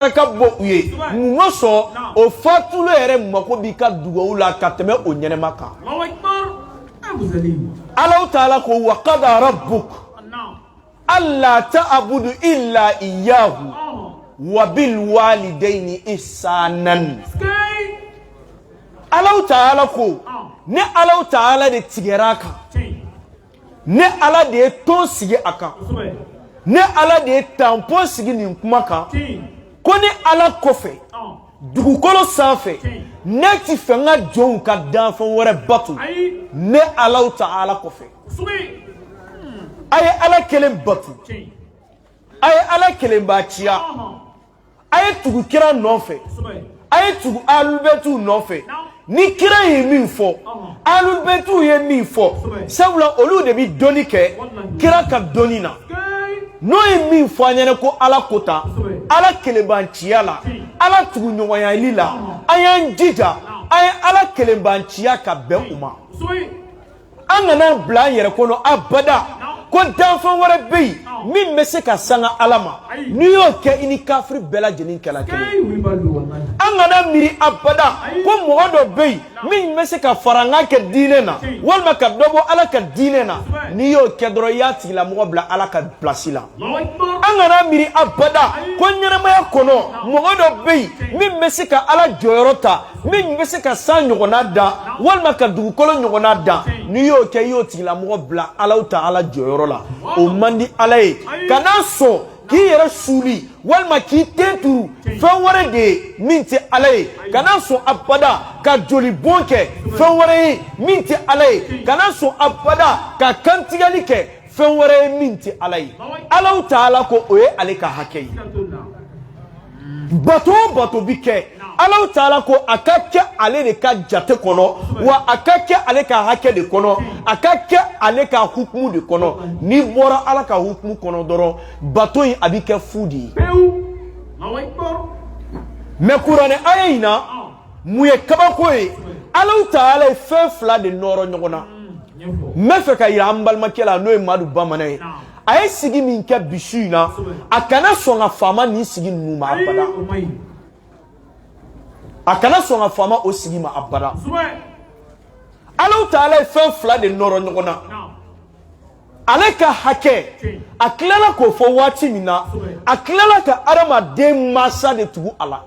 ka bɔ u ye mun ma sɔn o fatulen yɛrɛ mako b'i ka dugawu la ka tɛmɛ o ɲɛnama kan alaw taala ko wa kada rabbuka alla ta'budu illa iyyahu wa bil walidayni ihsanan alaw taala ko ne alaw taala de tigɛra a kan ne ala de ye ton sigi a kan ne ala de ye tanpon sigi nin kuma kan ko ne ala kɔfɛ dugukolo sanfɛ ne ti fɛ n ka jɔnw ka danfɛn wɛrɛ bato ne alaw taala kɔfɛ a ye ala kelen bato a ye ala kelenbanciya a ye tugu kira nɔfɛ a ye tugu alulubɛtiw nɔfɛ ni kira ye min fɔ alulubɛtiw ye min fɔ sabula olu de bɛ dɔnni kɛ kira ka dɔnni na n'u ye min fɔ an ɲɛna ko ala ko tan ala kelenbanciya la ala tuguɲɔgɔnyali la an y'an jija an ye ala kelenbanciya ka bɛn o ma an kan'a bila an yɛrɛ kɔnɔ abada ko danfɛn wɛrɛ bɛ yen min bɛ se ka sanga ala ma n'i y'o kɛ i ni kafiri bɛɛ lajɛlen kɛla kelen an kana miiri abada ko mɔgɔ dɔ bɛ yen min bɛ se ka farankan kɛ diinɛ na walima ka dɔ bɔ ala ka diinɛ na n'i y'o kɛ dɔrɔn i y'a tigilamɔgɔ bila ala ka pilasi la an kana miiri abada ko ɲɛnamaya kɔnɔ mɔgɔ dɔ bɛ yen min bɛ se ka ala jɔyɔrɔ ta min bɛ se ka san ɲɔgɔnna dan walima ka dugukolo ɲɔgɔnna dan n'i y'o kɛ i y'o tigilamɔgɔ bila alaw taala jɔyɔrɔ la o man di ala ye kana sɔn k'i yɛrɛ suuli walima k'i ten turu fɛn wɛrɛ de ye min tɛ ala ye kana sɔn abada ka jolibɔn kɛ fɛn wɛrɛ ye min tɛ ala ye kana sɔn abada ka kantigɛli kɛ fɛn wɛrɛ ye min tɛ ala ye alaw taala ko o ye ale ka hakɛ ye bato o bato bi kɛ alaw taala ko a ka kɛ ale de ka jate kɔnɔ wa a ka kɛ ale ka hakɛ de kɔnɔ a ka kɛ ale ka hukumu de kɔnɔ n'i bɔra ala ka hukumu kɔnɔ dɔrɔn bato in a bɛ kɛ fu de ye mɛ kuranɛ aya in na min ye kabako ye alaw taala ye fɛn fila de nɔrɔ ɲɔgɔn na n bɛ fɛ k'a jira an balimakɛ la n'o ye madu bamanan ye a ye sigi min kɛ bi su in na a kana sɔn ka fama nin sigi ninnu ma abada a kana sɔn ka fama o sigi ma abada alaw taala ye fɛn fila de nɔrɔ ɲɔgɔn na ale ka hakɛ a tilala k'o fɔ waati min na a tilala ka adamaden mansa de tugu a la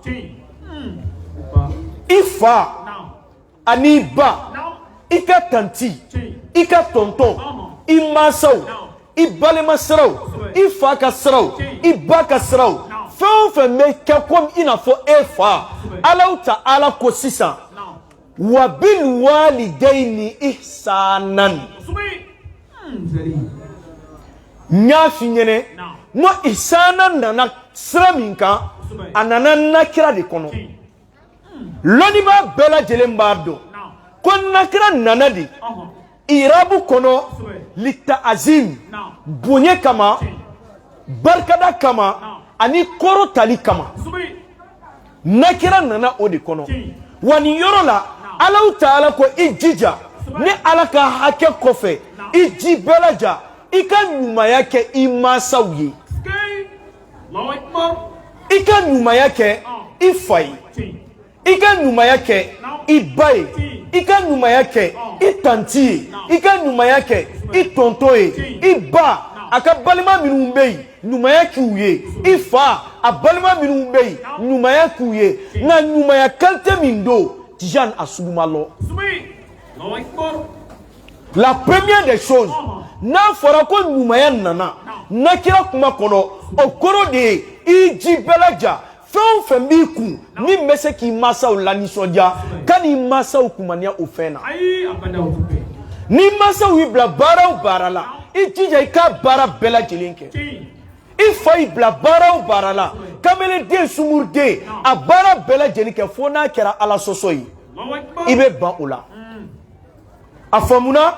i fa ani ba i ka tanti i ka tɔntɔn i mansaw i balima siraw i fa ka siraw i ba ka siraw fɛn o fɛn bɛ kɛ komi i n'a fɔ e fa alahu taala ko sisan wa bil walidayni ihsanan n y'a f'i ɲɛnɛ n ko ihsanan nana sira min kan a nana nakira de kɔnɔ lɔnnibaa bɛɛ lajɛlen b'a dɔn ko nakira nana de irabu kɔnɔ litaazim bonya kama barikada kama ani kɔrɔtali kama nakira nana o de kɔnɔ wa nin yɔrɔ la alahu taala ko i jija ne ala ka hakɛ kɔfɛ i ji bɛɛ laja i ka ɲumanya kɛ i mansaw ye i ka ɲumanya kɛ i fa ye i ka ɲumanya kɛ i ba ye i ka ɲumanya kɛ i tanti ye i ka ɲumanya kɛ i tɔntɔn ye i ba a ka balima minnu bɛ yen ɲumanya k'u ye i fa a balima minnu bɛ yen ɲumanya k'u ye nka ɲumanya kalite min don tijani a sugu ma lɔn la première des choses n'a fɔra ko ɲumanya nana nakira kuma kɔnɔ o kɔrɔ de ye i ji bɛɛ laja fɛn o fɛn b'i kun min bɛ se k'i mansaw lanisɔndiya ka n'i mansaw kumaniya o fɛn na n'i mansaw y'i bila baara o baara la i jija i ka baara bɛɛ lajɛlen kɛ i fa y'i bila baara o baara la kamelenden sungurunden a baara bɛɛ lajɛlen kɛ fo n'a kɛra ala sɔsɔ ye i bɛ ban o la a faamuna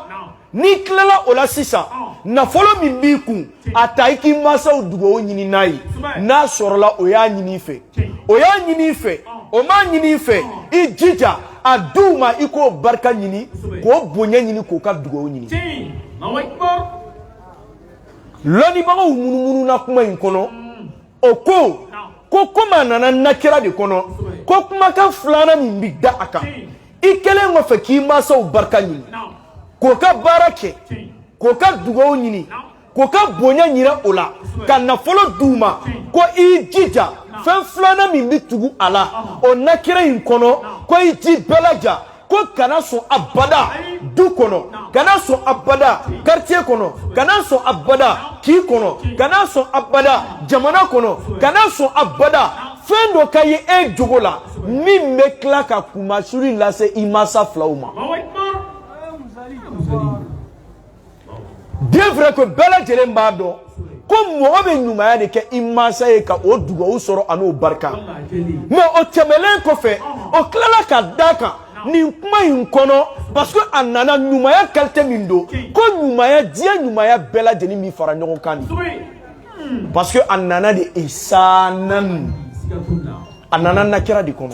n'i tilala o la sisan nafolo min b'i kun a ta i k'i mansaw dugawu ɲini n'a ye n'a sɔrɔla o y'a ɲini i fɛ o y'a ɲini i fɛ o m'a ɲini i fɛ i jija a d'u ma i k'o barika ɲini k'o bonya ɲini k'o ka dugawu ɲini lɔnnibagaw munumununa kuma in kɔnɔ o ko ko komi a nana nakira de kɔnɔ ko kumakan filanan min bɛ da a kan i kɛlen kɔfɛ k'i mansaw barika ɲini k'o ka baara kɛ k'o ka dugaw ɲini k'o ka bonya yira o la ka nafolo d'u ma ko i jija fɛn filanan min bɛ tugu a la o nakira in kɔnɔ ko i ji bɛɛ laja ko kana sɔn abada du kɔnɔ kana sɔn abada quartier kɔnɔ kana sɔn abada kin kɔnɔ kana sɔn abada jamana kɔnɔ kana sɔn abada fɛn dɔ ka ye e jogo la min bɛ tila ka kunmasuli lase i mansa filaw ma bien vrai que bɛɛ lajɛlen b'a dɔn ko mɔgɔ bɛ ɲumanya de kɛ i mansa ye ka o dugawu sɔrɔ an'o barika mais o tɛmɛlen kɔfɛ o tilala ka d'a kan nin kuma in kɔnɔ parce que a nana ɲumanya qualité min don ko ɲumanya diɲɛ ɲumanya bɛɛ lajɛlen min fara ɲɔgɔn kan de parce que a nana de isanan a nana nakira de kɔnɔ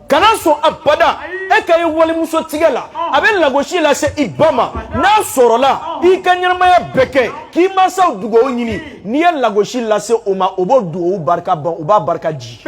kana sɔn abada e ka ye walimuso tigɛ la a bɛ lagosi lase i ba ma n'a sɔrɔla i ka ɲɛnamaya bɛɛ kɛ k'i mansaw dugawu ɲini n'i ye lagosi lase o ma o b'o dugawu barika ban o b'a barika di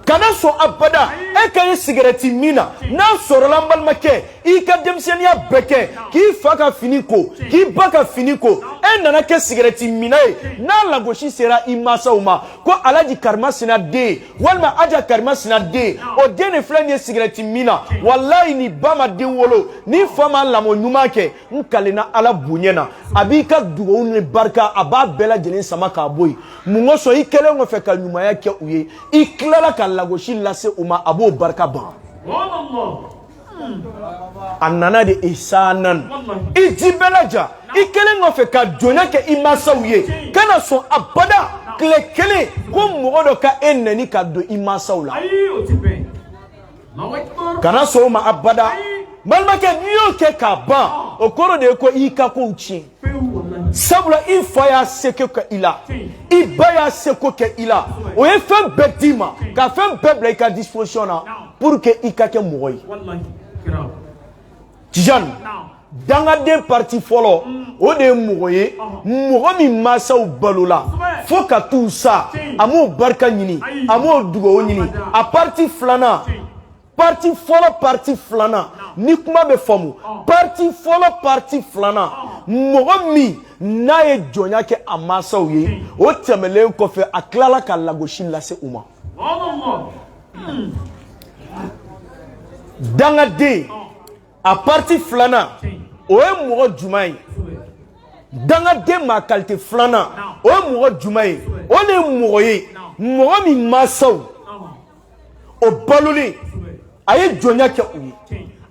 kana sɔn abada e ka ye sigɛrɛti min na n'a sɔrɔla n balimakɛ i ka denmisɛnninya bɛɛ kɛ k'i fa ka fini ko k'i ba ka fini ko e nana kɛ sigɛrɛti minna ye n'a lagosi sera i masaw ma ko alaji karimasina den walima aja karimasina den o den de filɛ nin ye sigɛrɛti min na walayi ni ba ma den wolo ni fa ma lamɔ ɲuman kɛ n kalenna ala bonya na a b'i ka dugawu ni barika a b'a bɛɛ lajɛlen sama k'a bɔ yen mun kosɔn i kɛlen kɔfɛ ka ɲumanya kɛ u ye i tilala ka lagosi lase u ma a b'o barika ban a nana de isanan i ji bɛɛ laja i kɛlen kɔfɛ ka jɔnya kɛ i mansaw ye kana sɔn abada tile kelen ko mɔgɔ dɔ ka e nɛni ka don i mansaw la kana sɔn o ma abada balimakɛ n'i y'o kɛ k'a ban o kɔrɔ de ye ko i ka kow tiɲɛ sabula i fa y'a seko kɛ i la i ba y'a seko kɛ i la o ye fɛn bɛɛ d'i ma ka fɛn bɛɛ bila i ka disposition na pour que i ka kɛ mɔgɔ ye Tijani dangaden parti fɔlɔ o de ye mɔgɔ ye mɔgɔ min mansaw balola fo ka t'u sa a m'o barika ɲini a m'o dugawu ɲini a parti filanan parti fɔlɔ parti filanan ni kuma bɛ faamu parti fɔlɔ parti filanan mɔgɔ min n'a ye jɔnya kɛ a mansaw ye o tɛmɛnlen kɔfɛ a tilala ka lagosi lase u ma dangaden a parti filanan o ye mɔgɔ jumɛn ye dangaden maa qualité filanan o ye mɔgɔ jumɛn ye o de ye mɔgɔ ye mɔgɔ min mansaw o balolen a ye jɔnya kɛ u ye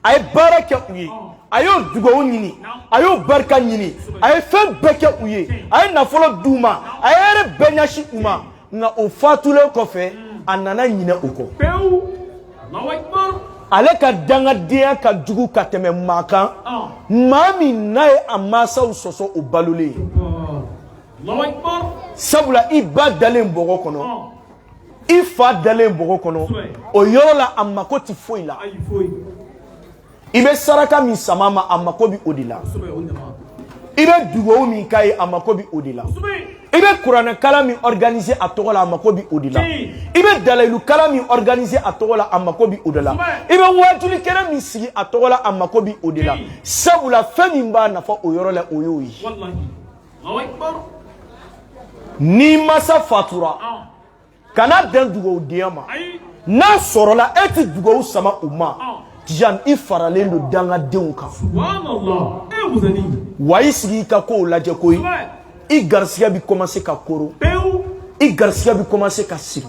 a ye baara kɛ u ye a y'o dugawu ɲini a y'o barika ɲini a ye fɛn bɛɛ kɛ u ye a ye nafolo d'u ma a ye hɛrɛ bɛɛ ɲɛsin u ma nka o fatulen kɔfɛ a nana ɲinɛ o kɔ pewu Allahu Akbar ale ka dangadenya ka jugu ka tɛmɛ maa kan ah. maa min n'a ye a mansaw sɔsɔ o balolen ye ah. Allahu Akbar sabula i ba dalen bɔgɔ kɔnɔ ah. i fa dalen bɔgɔ kɔnɔ o yɔrɔ la a mako tɛ foyi la i bɛ saraka min sama a ma a mako bɛ o de la i bɛ dugawu min k'a ye a mako bɛ o de la i bɛ kuranɛ kalan min organiser a tɔgɔ la a mako bɛ o de la i bɛ dalayilu kalan min organiser a tɔgɔ la a mako bɛ o de la i bɛ waajuli kɛnɛ min sigi a tɔgɔ la a mako bɛ o de la sabula fɛn min b'a nafa o yɔrɔ la o y'o ye n'i masa fatura. kana bɛn dugawu denya ma n'a sɔrɔla e tɛ dugawu sama u ma jan i faralen don dangadenw kan wa i sigi i ka kow lajɛ koyi i garisigɛ bɛ kɔmanse ka koro i garisigɛ bɛ kɔmanse ka siri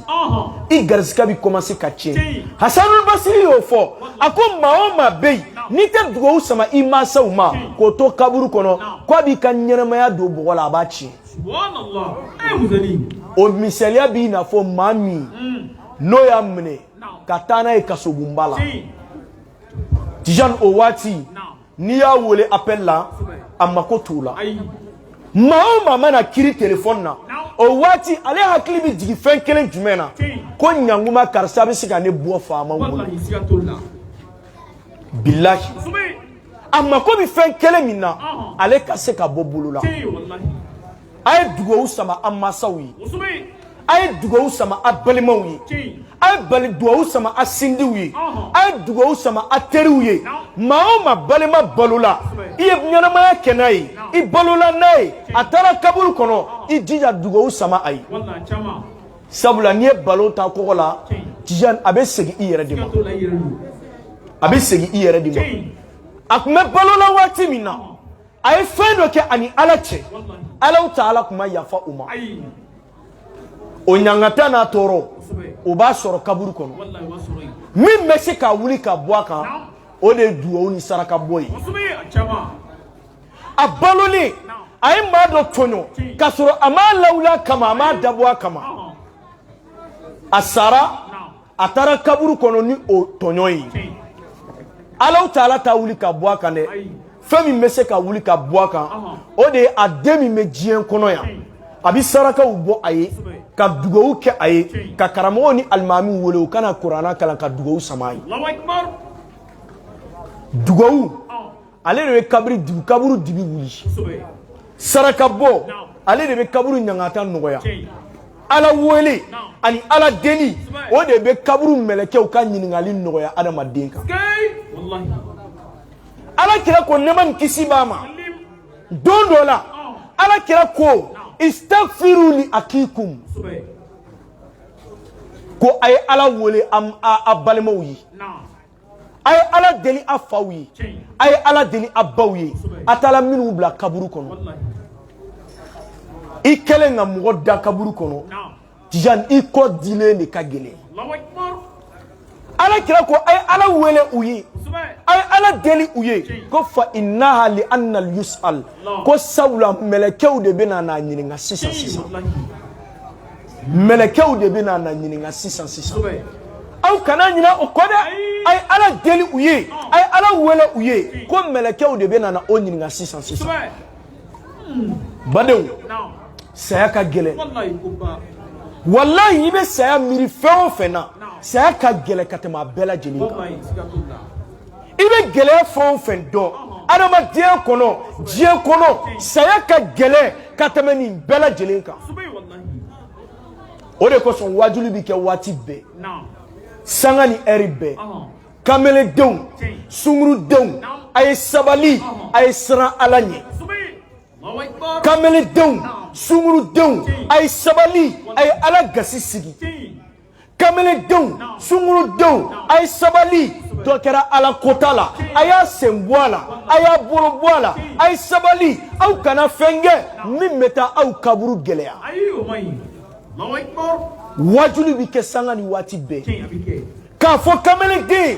i garisigɛ bɛ kɔmanse ka tiɲɛ hasanu basiri y'o fɔ a ko maa o maa bɛ yen n'i tɛ dugawu sama i mansaw ma k'o to kaburu kɔnɔ k'a b'i ka ɲɛnamaya don bɔgɔ la a b'a tiɲɛ o misaliya b'i n'a fɔ maa min mm. n'o y'a minɛ ka taa n'a ye kasobonba la tijani o waati n'i y'a wele appel la a mako t'o la maa o maa mana kiri telefɔni na o waati ale hakili bɛ jigin fɛn kelen jumɛn na ko ɲanguma karisa bɛ se ka ne bɔ faama bolo bilahi a mako bɛ fɛn kelen min na ale ka se ka bɔ bolo la a ye dugawu sama a mansaw ye a ye dugawu sama a balimaw ye a ye bali dugawu sama a sinjiw ye a ye dugawu sama a teriw ye maa o maa balima balola i ye ɲɛnamaya kɛ n'a ye i balola n'a ye a taara kaburu kɔnɔ i jija dugawu sama a ye sabula n'i ye balɔn tan kogo la tijani a bɛ segin i yɛrɛ de ma a bɛ segin i yɛrɛ de ma a tun bɛ balo la waati min na a ye fɛn dɔ kɛ ani ala cɛ Allahu taala tun ma yafa o ma o ɲangata n'a tɔɔrɔ o b'a sɔrɔ kaburu kɔnɔ min bɛ se k'a wuli ka bɔ a kan o de ye duwawu ni saraka bɔ ye a balolen a ye maa dɔ tɔɲɔ k'a sɔrɔ a m'a lawuli a kama a m'a dabɔ a kama a sara a taara kaburu kɔnɔ ni o tɔɲɔ ye Allahu taala t'a wuli ka bɔ a kan dɛ fɛn min bɛ se k'a wuli ka bɔ a kan o de ye a den min bɛ diɲɛ kɔnɔ yan a bɛ sarakaw bɔ a ye ka dugawu kɛ a ye ka karamɔgɔw ni alimamiw wele u ka na kuranɛ kalan ka dugawu sama a ye dugawu ale de bɛ kabiri dibi kaburu dibi wuli saraka bɔ ale de bɛ kaburu ɲangata nɔgɔya ala wele ani ala deli o de bɛ kaburu mɛlɛkɛw ka ɲininkali nɔgɔya adamaden kan ala kira ko nɛɛma ni kisi b'a ma don dɔ la ala kira ko istaghfiru li akhikum ko a ye ala wele a balimaw ye a ye ala deli a faw ye a ye ala deli a baw ye a taara minnu bila kaburu kɔnɔ i kɛlen ka mɔgɔ da kaburu kɔnɔ tijani i kɔ dilen de ka gɛlɛn ala kira ko a ye ala wele u ye a ye ala deli u ye ko fa innaha li anna yus'al ko sabula mɛlɛkɛw de bɛna n'a ɲininka sisan sisan mɛlɛkɛw de bɛna n'a ɲininka sisan sisan aw kana ɲinɛ o kɔ dɛ a ye ala deli u ye a ye ala wele u ye ko mɛlɛkɛw de bɛna na o ɲininka sisan sisan badenw saya ka gɛlɛn walayi i bɛ saya miiri fɛn o fɛn na saya ka gɛlɛn ka tɛmɛ a bɛɛ lajɛlen kan i bɛ gɛlɛya fɛn o fɛn dɔn adamadenya kɔnɔ diɲɛ kɔnɔ saya ka gɛlɛn ka tɛmɛ nin bɛɛ lajɛlen kan o de kosɔn waajuli bɛ kɛ waati bɛɛ sanga ni ɛri bɛɛ kameledenw sungurudenw a ye sabali a ye siran ala ɲɛ kameledenw sungurudenw a ye sabali a ye ala gasi sigi kamalendenw sungurudenw a ye sabali dɔ kɛra ala kota la a y'a sen bɔ a la a y'a bolo bɔ a la a ye sabali aw kana fɛn kɛ min bɛ taa aw kaburu gɛlɛya waajuli bɛ kɛ sanga ni waati bɛɛ k'a fɔ kamalenden ye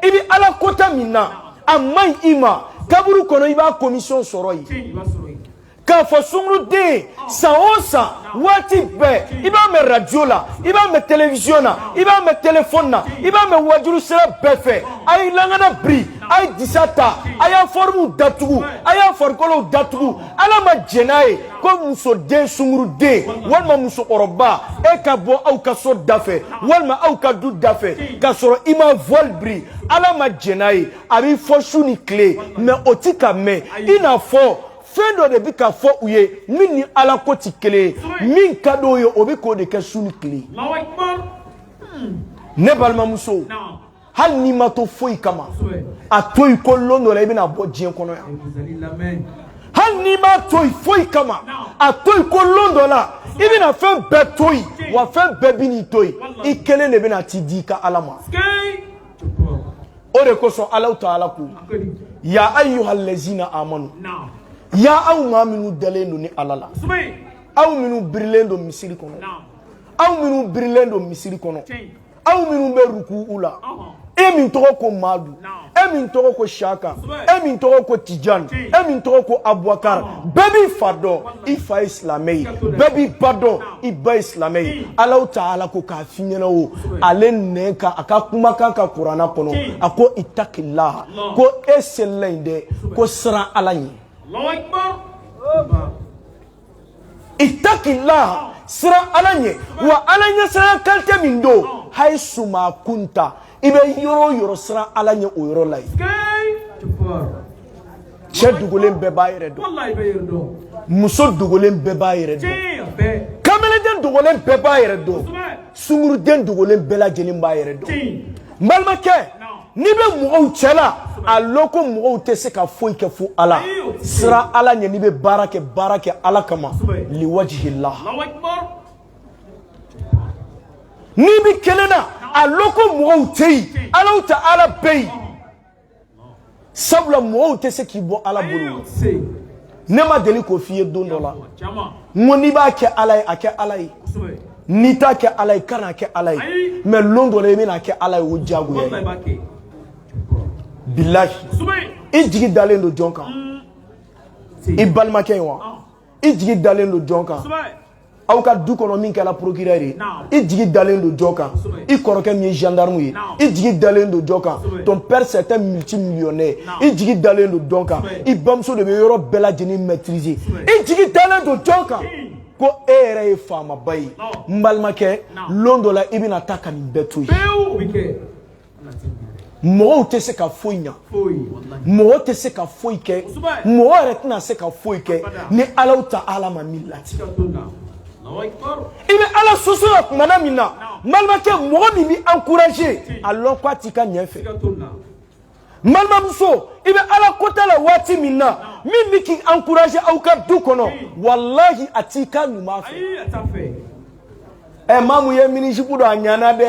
i bɛ ala kota min na a man ɲi i ma kaburu kɔnɔ i b'a komisɔn sɔrɔ yen k'a fɔ sunguruden ye san o san waati bɛɛ i b'a mɛn radio la i b'a mɛn television na i b'a mɛn telefɔni na i b'a mɛn waajuli sira bɛɛ fɛ a ye lankana biri a ye disa ta a y'a fɔrimuw datugu a y'a farikolow datugu ala ma jɛn n'a ye ko musoden sunguruden walima musokɔrɔba e ka bɔ aw ka so da fɛ walima aw ka du da fɛ k'a sɔrɔ i ma voile biri ala ma jɛn n'a ye a bi fɔ su ni tile mais o ti k'a mɛn i n'a fɔ fɛn dɔ de bɛ ka fɔ u ye min ni ala ko tɛ kelen ye min ka d'o ye o bɛ k'o de kɛ su ni tile ne balimamuso hali n'i m'a to foyi kama a to yen ko lon dɔ la i bɛna bɔ diɲɛ kɔnɔ yan hali n'i m'a to yen foyi kama a to yen ko lon dɔ la i bɛna fɛn bɛɛ to yen wa fɛn bɛɛ bɛn'i to yen i kelen de bɛna t'i di i ka ala ma. o de kosɔn alahu taala ko ya ayuha lɛzina amanu ya aw maa minnu dalen don ni ala la aw minnu birilen don misiri kɔnɔ aw minnu birilen don misiri kɔnɔ aw minnu bɛ rukuu la e min tɔgɔ ko maadu e min tɔgɔ ko saka e min tɔgɔ ko tijani e min tɔgɔ ko abubakar bɛɛ b'i fa dɔn i fa ye silamɛ ye bɛɛ b'i ba dɔn i ba ye silamɛ ye alahu taala ko k'a f'i ɲɛna o ale nɛn kan a ka kumakan ka kurana kɔnɔ a ko itakila ko e selila in dɛ ko siran ala ɲɛ itakila siran ala ɲɛ wa ala ɲɛsiranya kalite min don hayisu ma kunta i bɛ yɔrɔ o yɔrɔ siran ala ɲɛ o yɔrɔ la yen cɛ dogolen bɛɛ b'a yɛrɛ dɔn muso dogolen bɛɛ b'a yɛrɛ dɔn kamelenden dogolen bɛɛ b'a yɛrɛ dɔn sunguruden dogolen bɛɛ lajɛlen b'a yɛrɛ dɔn n balimakɛ n'i bɛ mɔgɔw cɛ la a lɔn ko mɔgɔw tɛ se ka foyi kɛ fo ala siran ala ɲɛ n'i bɛ baara kɛ baara kɛ ala kama liwajihila n'i b'i kelen na a lɔn ko mɔgɔw tɛ yen alahu taala bɛ yen sabula mɔgɔw tɛ se k'i bɔ ala bolo ne ma deli k'o f'i ye don dɔ la n ko n'i b'a kɛ ala ye a kɛ ala ye n'i t'a kɛ ala ye kana a kɛ ala ye mɛ lon dɔ la i bɛn'a kɛ ala ye o diyagoya ye bilahi i jigi dalen don jɔn kan i balimakɛ ye wa i jigi dalen don jɔn kan aw ka du kɔnɔ min kɛra procureur ye i jigi dalen don jɔn kan i kɔrɔkɛ min ye gendarme ye i jigi dalen don jɔn kan ton père c'est un multimillionnaire i jigi dalen don jɔn kan i bamuso de bɛ yɔrɔ bɛɛ lajɛlen maîtriser i jigi dalen don jɔn kan ko e yɛrɛ ye faamaba ye n balimakɛ lon dɔ la i bɛna taa ka nin bɛɛ to yen mɔgɔw tɛ se ka foyi ɲa mɔgɔ tɛ se ka foyi kɛ mɔgɔ yɛrɛ tɛna se ka foyi kɛ ni alahu taala ma min lati i bɛ ala sɔsɔ la tumana min na balimakɛ mɔgɔ min b'i encourager a lɔn k'a t'i ka ɲɛ fɛ balimamuso i bɛ ala kota la waati min na min bɛ k'i encourager aw ka du kɔnɔ walahi a t'i ka ɲuman fɛ ɛ maamu ye minijupe don a ɲana dɛ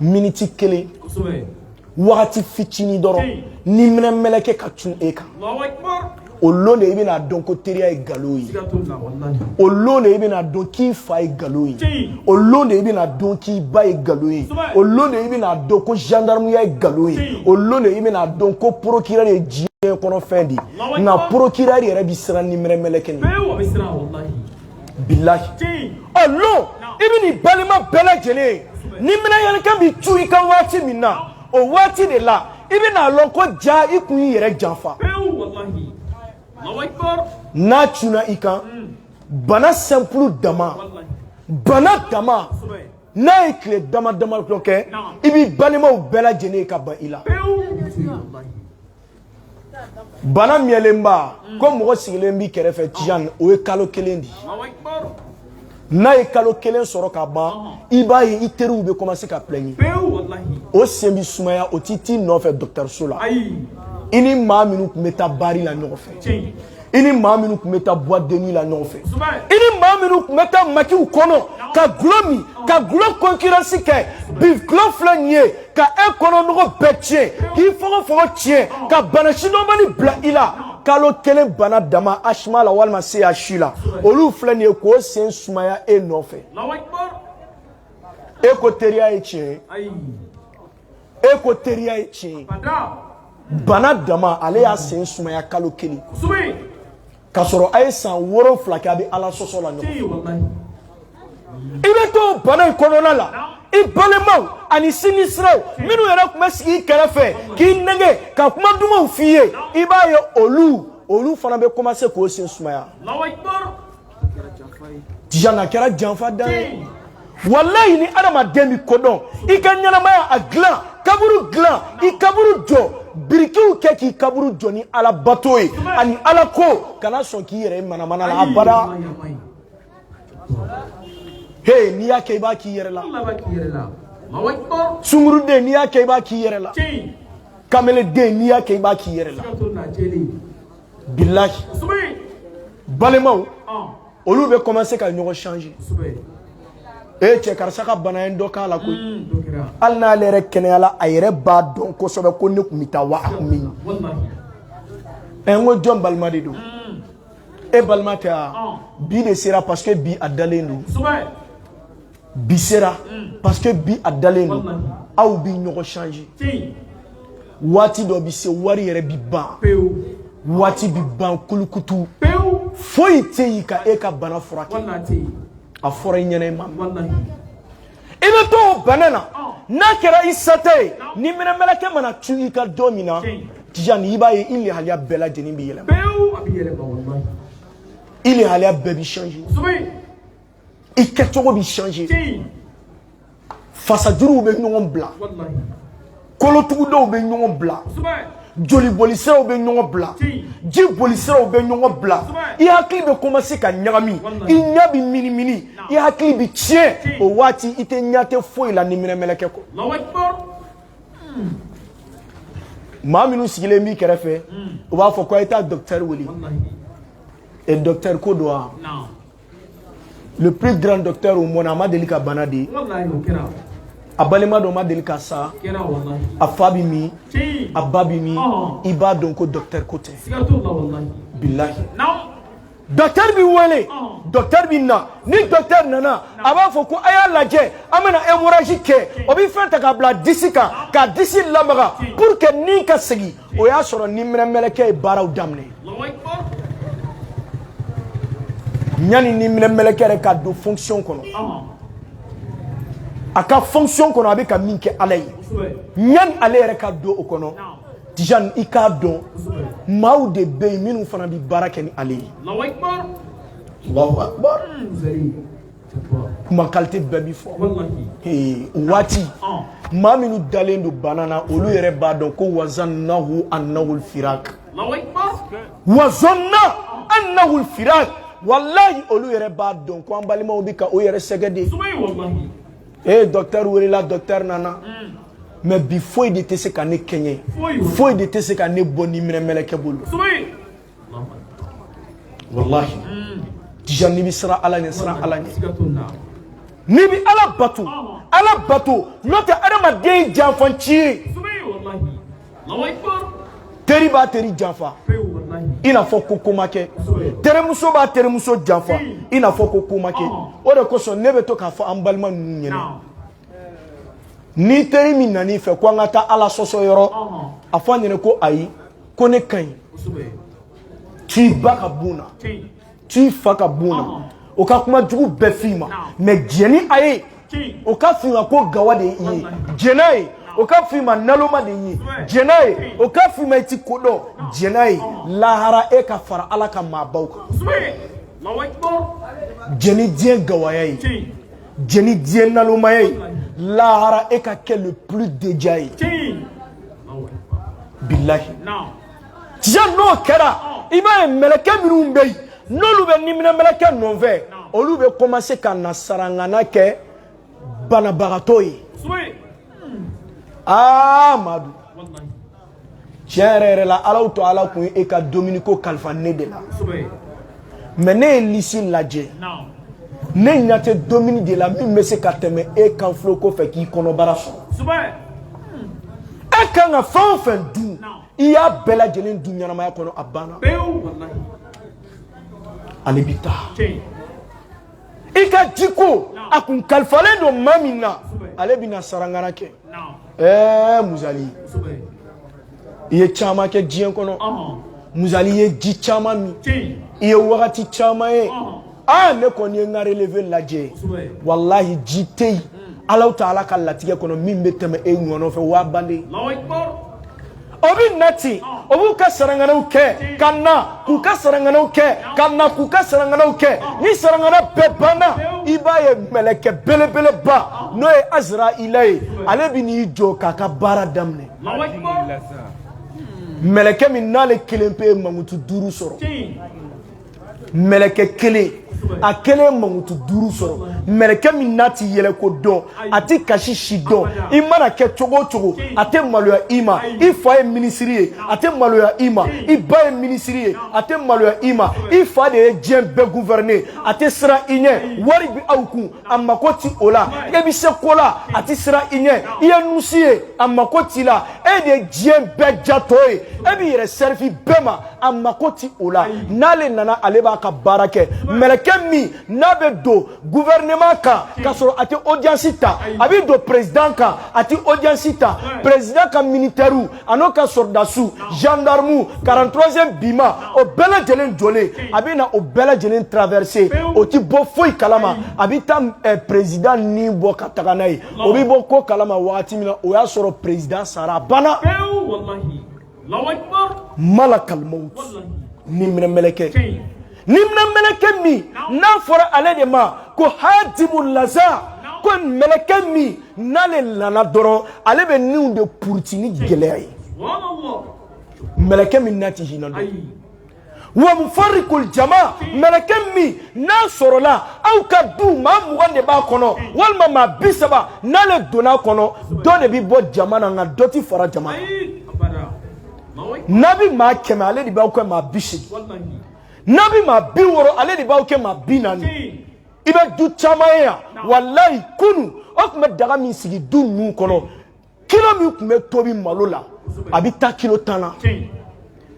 miniti kelen wagati fitinin dɔrɔn niminɛ mɛlɛkɛ ka cun e kan o lon de i bɛn'a dɔn ko teriya ye nkalon ye o lon de i bɛn'a dɔn k'i fa ye nkalon ye o lon de i bɛn'a dɔn k'i ba ye nkalon ye o lon de i bɛn'a dɔn ko zandarmuya ye nkalon ye o lon de i bɛn'a dɔn ko procureur ye diɲɛ kɔnɔ fɛn de ye nka procureur yɛrɛ bɛ siran niminɛ mɛlɛkɛ de ɲɛ bilahi o lon i bɛ nin balima bɛɛ lajɛlen ye niminɛ mɛlɛkɛ bɛ cun i kan waati min na o waati de la i bɛn'a lɔn ko ja i kun y'i yɛrɛ janfa n'a cunna i kan bana simple dama bana dama n'a ye tile dama dama dɔ kɛ i b'i balimaw bɛɛ lajɛlen ye ka ban i la. bana miyɛlenba mm. ko mɔgɔ sigilen b'i kɛrɛfɛ tijan o ye kalo kelen de ye n'a ye kalo kelen sɔrɔ ka ban i b'a ye i teriw bɛ commencer ka plɛɲi o sen bɛ sumaya o tɛ t'i nɔfɛ dɔgɔtɔrɔso la i ni maa minnu tun bɛ taa bari la ɲɔgɔn fɛ i ni maa minnu tun bɛ taa boîte de nuit la ɲɔgɔn fɛ i ni maa minnu tun bɛ taa makiw kɔnɔ ka gulɔ min ka gulɔ concurrence kɛ bi gulɔ filɛ nin ye ka e kɔnɔ nogo bɛɛ tiɲɛ k'i fogofogo tiɲɛ ka bana sidɔnbali bila i la kalo kelen bana dama HMA la walima CHU la olu filɛ nin ye k'o sen sumaya e nɔfɛ e ko teriya ye tiɲɛ ye e ko teriya ye tiɲɛ ye bana dama ale y'a sen sumaya kalo kelen k'a sɔrɔ a ye san wolonfila kɛ a bɛ ala sɔsɔ la ɲɔgɔn i bɛ to bana in kɔnɔna la i balemaw ani sinjisiraw minnu yɛrɛ tun bɛ sigi i kɛrɛfɛ k'i nɛgɛn ka kuma dumanw f'i ye i b'a ye olu olu fana bɛ commencer k'o sen sumaya a kɛra janfa dan ye walayi ni adamaden bɛ ko dɔn i ka ɲɛnamaya a dilan kaburu dilan i kaburu jɔ birikiw kɛ k'i kaburu jɔ ni ala bato ye ani ala ko kana sɔn k'i yɛrɛ manamana la abada he n'i y'a kɛ i b'a k'i yɛrɛ la sunguruden n'i y'a kɛ i b'a k'i yɛrɛ la kameleden n'i y'a kɛ i b'a k'i yɛrɛ la bilahi balimaw olu bɛ commencer ka ɲɔgɔn changer e eh, cɛ karisa ka bana ye dɔ k'a la koyi mm, hali n'ale yɛrɛ kɛnɛyala a yɛrɛ b'a dɔn kosɛbɛ ko ne tun bɛ taa wa a tun bɛ ɲɛ ɛ n ko jɔn balima de don mm. e balima tɛ wa bi de sera parce que bi a dalen don bi sera parce que bi a dalen don aw bi ɲɔgɔn changer waati dɔ bi se wari yɛrɛ bi ban waati bi ban kulukutu foyi tɛ yen ka e ka bana furakɛ a fɔra i ɲɛna i ma i bɛ to o bana na n'a kɛra i sata ye niminɛ mɛlɛkɛ mana cun i kan don min na tija ni i b'a ye i lahaliya bɛɛ lajɛlen bɛ yɛlɛma i lahaliya bɛɛ bɛ changer i kɛcogo bɛ changer fasajuruw bɛ ɲɔgɔn bila kolotugudaw bɛ ɲɔgɔn bila joli bolisiraw bɛ ɲɔgɔn bila ji bolisiraw bɛ ɲɔgɔn bila i hakili bɛ commencer ka ɲagami i ɲɛ bɛ minimini i hakili bɛ tiɲɛ o waati i tɛ ɲɛ tɛ foyi la niminɛmɛlɛkɛ kɔ maa minnu sigilen b'i kɛrɛfɛ u b'a fɔ ko a ye taa docteur wele docteur ko don wa le plus grand docteur au monde a ma deli ka bana dɛ a balima dɔ ma deli ka sa a fa bɛ min a ba bɛ min i b'a dɔn ko docteur ko tɛ bilahi docteur b'i wele docteur bɛ na ni docteur nana a b'a fɔ ko a y'a lajɛ an bɛna hemorragie kɛ o bɛ fɛn ta k'a bila disi kan ka disi lamaga pour que ni ka segin o y'a sɔrɔ niminɛmɛlɛkɛ ye baaraw daminɛ yanni niminɛmɛlɛkɛ yɛrɛ ka don fonction kɔnɔ a ka fonction kɔnɔ a bɛ ka min kɛ ala ye yanni ale yɛrɛ ka don o kɔnɔ Tijani i k'a dɔn maaw de bɛ yen minnu fana bɛ baara kɛ ni ale ye. Alahu akibaru. Alahu akibaru. kuma qualité bɛɛ bɛ fɔ waati maa minnu dalen don bana na olu yɛrɛ b'a dɔn ko wazannahu annahul firak wazanna annahul firak walayi olu yɛrɛ b'a dɔn ko an balimaw bɛ ka o yɛrɛ sɛgɛn dɛ ee docteur welela docteur nana mais bi foyi de tɛ se ka ne kɛɲɛ foyi de tɛ se ka ne bɔ niminɛmɛlɛkɛ bolo walayi n'i bɛ siran ala ɲɛ siran ala ɲɛ n'i bɛ ala bato ala bato n'o tɛ adamaden ye janfanci ye teri b'a teri janfa i n'a fɔ ko ko ma kɛ terimuso b'a terimuso janfa i n'a fɔ ko ko ma kɛ o de kosɔn ne bɛ to k'a fɔ an balima ninnu ɲɛna ni teri min nan'i fɛ ko an ka taa ala sɔsɔ yɔrɔ a fɔ a ɲɛna ko ayi ko n'e ka ɲi to i ba ka bon na to i fa ka bon na o ka kuma jugu bɛɛ f'i ma mais jɛn ni a ye o ka f'i ma ko gawa de ye i ye jɛn n'a ye o ka f'i ma naloma de i ye jɛn n'a ye o ka f'i ma i ti ko dɔn jɛn n'a ye lahara e ka fara ala ka maabaw kan jɛn ni diɲɛ gawaya ye jɛn ni diɲɛ nalomaya ye lahara e ka kɛ le plus déjà ye bilahi tiɲɛ n'o kɛra i b'a ye mɛlɛkɛ minnu bɛ yen n'olu bɛ niminɛmɛlɛkɛ nɔfɛ olu bɛ commencer ka na sarangana kɛ banabagatɔ ye Amadu tiɲɛ yɛrɛ yɛrɛ la alahu taala kun ye e ka dumuni ko kalifa ne de la mɛ ne ye lisi lajɛ ne ɲɛ tɛ dumuni de la min bɛ se ka tɛmɛ e kan filo ko fɛ k'i kɔnɔbara sɔrɔ e kan ka fɛn o fɛn dun i y'a bɛɛ lajɛlen dun ɲɛnamaya kɔnɔ a banna ale bɛ taa i ka jiko a kun kalifalen don maa min na ale bɛna sarangana kɛ ɛɛ muzali i ye caman kɛ diɲɛ kɔnɔ muzali i ye ji caman min i ye wagati caman ye aa ne kɔni ye n ka releve lajɛ walahi ji tɛ yen alahu taala ka latigɛ kɔnɔ min bɛ tɛmɛ e ngɔnɔ fɛ wa a bannen o bɛ na ten o b'u ka saranganaw kɛ ka na k'u ka saranganaw kɛ ka na k'u ka saranganaw kɛ ni sarangana bɛɛ banna i b'a ye mɛlɛkɛ belebeleba n'o ye azirayila ye ale bɛ n'i jɔ k'a ka baara daminɛ mɛlɛkɛ min n'ale kelen pe ye mankutu duuru sɔrɔ mɛlɛkɛ kelen a kelen ye mankutu duuru sɔrɔ mɛlɛkɛ min n'a ti yɛlɛko dɔn a ti kasi si dɔn i mana kɛ cogo o cogo a tɛ maloya i ma i fa ye minisiri ye a tɛ maloya i ma i ba ye minisiri ye a tɛ maloya i ma i fa de ye diɲɛ bɛɛ guvɛrɛne a tɛ siran i ɲɛ wari bi aw kun a mako ti o la e bɛ se ko la a tɛ siran i ɲɛ i ye nusi ye a mako t'i la e de ye diɲɛ bɛɛ jatɔ ye e b'i yɛrɛ sɛrifi bɛɛ ma a mako ti o la n'ale nana ale b'a ka baara kɛ mɛlɛkɛ min n'a bɛ don gouvernement kan k'a sɔrɔ a tɛ audience ta a bɛ don président kan a tɛ audience ta président ka militaires an'o ka sɔrɔdasiw gendarmes 43e bima o bɛɛ lajɛlen jɔlen a bɛ na o bɛɛ lajɛlen traverser o ti bɔ foyi kalama a bɛ taa eh, président ni bɔ ka taga n'a ye o bɛ bɔ ko kalama wagati min na o y'a sɔrɔ président sara a banna. malakal maut niminɛ mɛlɛkɛ niminɛ mɛlɛkɛ min n'a fɔra ale de ma ko hadimu laza ko mɛlɛkɛ min n'ale nana dɔrɔn ale bɛ niw de puruti ni gɛlɛya ye mɛlɛkɛ min n'a tɛ hinɛ dɔn wa mufarikul jama mɛlɛkɛ min n'a sɔrɔla aw ka du maa mugan de b'a kɔnɔ walima maa bi saba n'ale donn'a kɔnɔ dɔ de bɛ bɔ jama na nka dɔ ti fara jama na n'a bɛ maa kɛmɛ ale de b'aw kɛ maa bi seegin n'a bɛ maa bi wɔɔrɔ ale de b'aw kɛ maa bi naani i bɛ du caman ye yan walayi kunu o kun bɛ daga min sigi du ninnu kɔnɔ kilo min tun bɛ tobi malo la a bɛ taa kilo tan na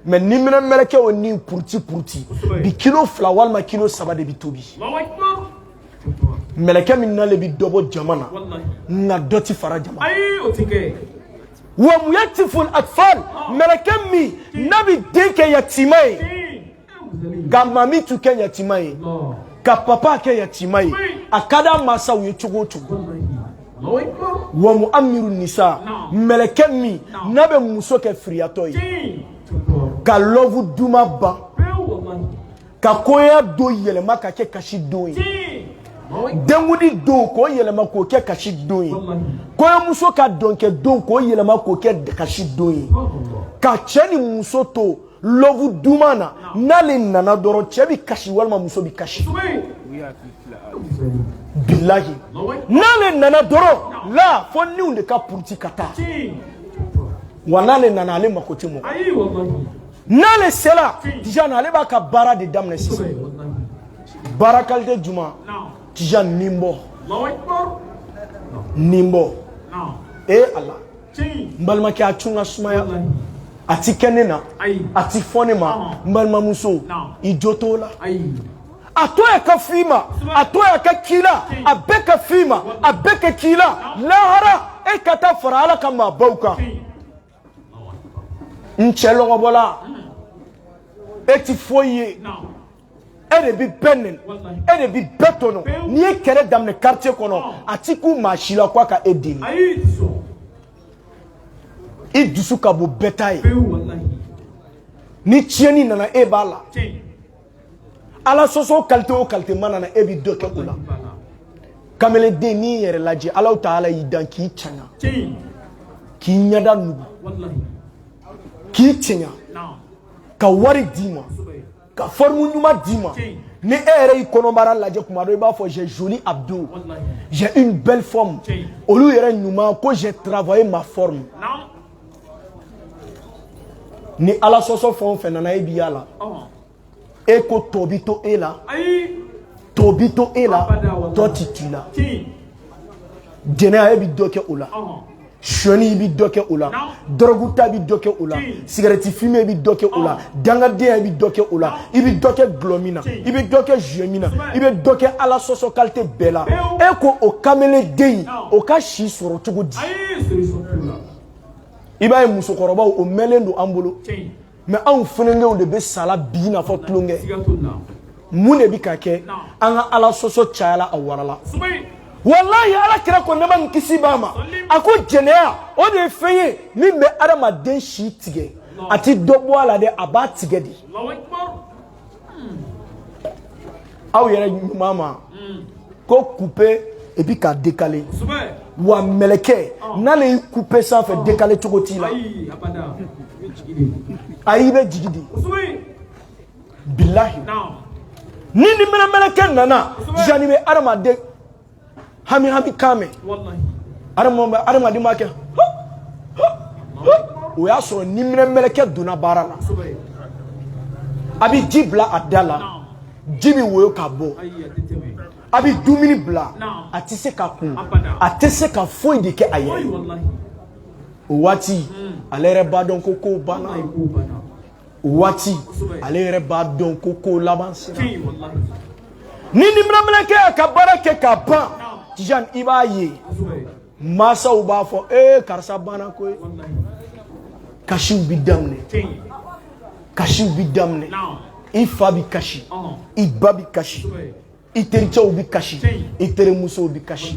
mɛ niminɛ mɛlɛkɛ o ni puruti puruti bi kilo fila walima kilo saba de bɛ tobi mɛlɛkɛ min nalen bɛ dɔ bɔ jama na nka dɔ tɛ fara jama wa muyatimul atfal mɛlɛkɛ min n'a bɛ den kɛ yatima ye ka mamitu kɛ yatima ye ka papa kɛ yatima ye a ka d'a mansaw ye cogo o cogo wa muramilu nisa mɛlɛkɛ min n'a bɛ muso kɛ firiyatɔ ye ka lɔvu duman ban ka kɔɲɔ don yɛlɛma ka kɛ kasi don ye denkundi don k'o yɛlɛma k'o kɛ kasi don ye kɔɲɔmuso ka dɔnkɛ don k'o yɛlɛma k'o kɛ kasi don ye ka cɛ ni muso to lɔvu duman na n'ale nana dɔrɔn cɛ bɛ kasi walima muso bɛ kasi bilahi n'ale nana dɔrɔn la fo niw de ka puruti ka taa wa n'ale nana ale mako tɛ mɔgɔ n'ale sela tijani ale b'a ka baara de daminɛ sisan baara kalite jumɛn tijani nibɔ nibɔ ee ala n balimakɛ a to ka sumaya a ti kɛ ne na a ti fɔ ne ma n balimamuso i jo t'o la a to a ka f'i ma a to a ka k'i la a bɛɛ ka f'i ma a bɛɛ ka k'i la lahara e ka taa fara ala ka maabaw kan n cɛ lɔgɔbɔla e ti foyi ye e de bi bɛɛ nɛni e de bi bɛɛ tɔɲɔ n'i ye kɛlɛ daminɛ quartier kɔnɔ a ti kun maa si la ko a ka e deli i dusu ka bon bɛɛ ta ye ni tiɲɛni nana e b'a la ala sɔsɔ kalite o kalite mana na e bi dɔ kɛ o la kamelenden n'i yɛrɛ lajɛ alahu taala y'i dan k'i cɛɲa k'i ɲɛda nugu k'i cɛɲa ka wari d'i ma ka forme ɲuman d'i ma ni e yɛrɛ y'i kɔnɔbara lajɛ kuma dɔ i b'a fɔ j'ai joli abdo j'ai une belle forme olu yɛrɛ ɲuman ko j'ai travaillé ma forme ni ala sɔsɔ fɛn o fɛn nana e bi a la e ko tɔ bi to e la tɔ bi to e la tɔ ti t'i la jɛnɛya e bi dɔ kɛ o la sonyɛni i bi dɔ kɛ o la dɔrɔgu ta bi dɔ kɛ o la sigarɛti fime bi dɔ kɛ o la dangadenya bi dɔ kɛ o la i bi dɔ kɛ dɔlɔ min na i bi dɔ kɛ joint min na i bɛ dɔ kɛ ala sɔsɔ kalite bɛɛ la e ko o kamelenden o ka si sɔrɔ cogo di i b'a ye musokɔrɔbaw o mɛnlen don an bolo mɛ anw funankɛw de bɛ sa la bi i n'a fɔ tulonkɛ mun de bɛ ka kɛ an ka ala sɔsɔ cayala a warala walayi ala kira ko nɛɛma ni kisi b'a ma a ko jɛnɛya o de ye fɛn ye min bɛ adamaden si tigɛ a ti dɔ bɔ a la dɛ a b'a tigɛ de aw yɛrɛ ɲuman ma hmm. ko couper et puis ka décaler wa mɛlɛkɛ oh. n'ale y'i couper sanfɛ oh. décaler cogo t'i la ayi i bɛ jigi de bilahi ni niminɛmɛlɛkɛ nana yanni bɛ adamaden hami hami kan min adamaden b'a kɛ o y'a sɔrɔ niminɛmɛlɛkɛ donna baara la a bɛ ji bila a da la ji bɛ woyo ka bɔ a bɛ dumuni bila a tɛ se k'a kunu a tɛ se ka foyi de kɛ a yɛrɛ ye o waati ale yɛrɛ b'a dɔn ko kow banna waati ale yɛrɛ b'a dɔn ko ko laban sera ni niminɛmɛlɛkɛ y'a ka baara kɛ k'a ban Tijani i b'a ye masaw b'a fɔ ee karisa banna koyi kasiw bi daminɛ kasiw bi daminɛ i fa bi kasi i ba bi kasi i tericɛw bɛ kasi i terimusow bɛ kasi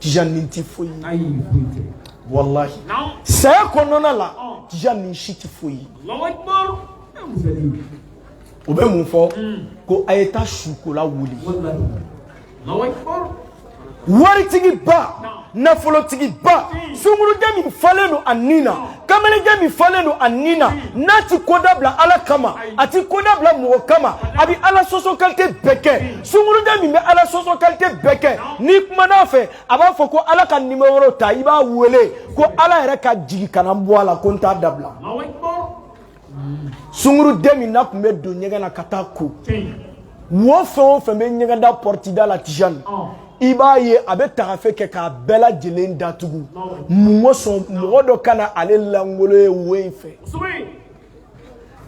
Tijani nin tɛ foyi ye walahi saya kɔnɔna la Tijani nin si tɛ foyi ye u bɛ mun fɔ ko a ye taa sukola wele waritigiba nafolotigiba sungurunden min falen don a ni na kamalenden min falen don a ni na n'a ti ko dabila ala kama a ti ko dabila mɔgɔ kama a bi ala sɔsɔ kalite bɛɛ kɛ sungurunden min bɛ ala sɔsɔ kalite bɛɛ kɛ n'i kumana a fɛ a b'a fɔ ko ala ka nimero ta i b'a wele ko ala yɛrɛ ka jigi ka na bɔ a la ko n t'a dabila sungurunden min n'a tun bɛ don ɲɛgɛn na ka taa ko wo fɛn o fɛn bɛ ɲɛgɛn da pɔrɔti da la tijani i b'a ye a bɛ tagafe kɛ k'a bɛɛ lajɛlen datugu mun kosɔn mɔgɔ dɔ kana ale langolo ye wo in fɛ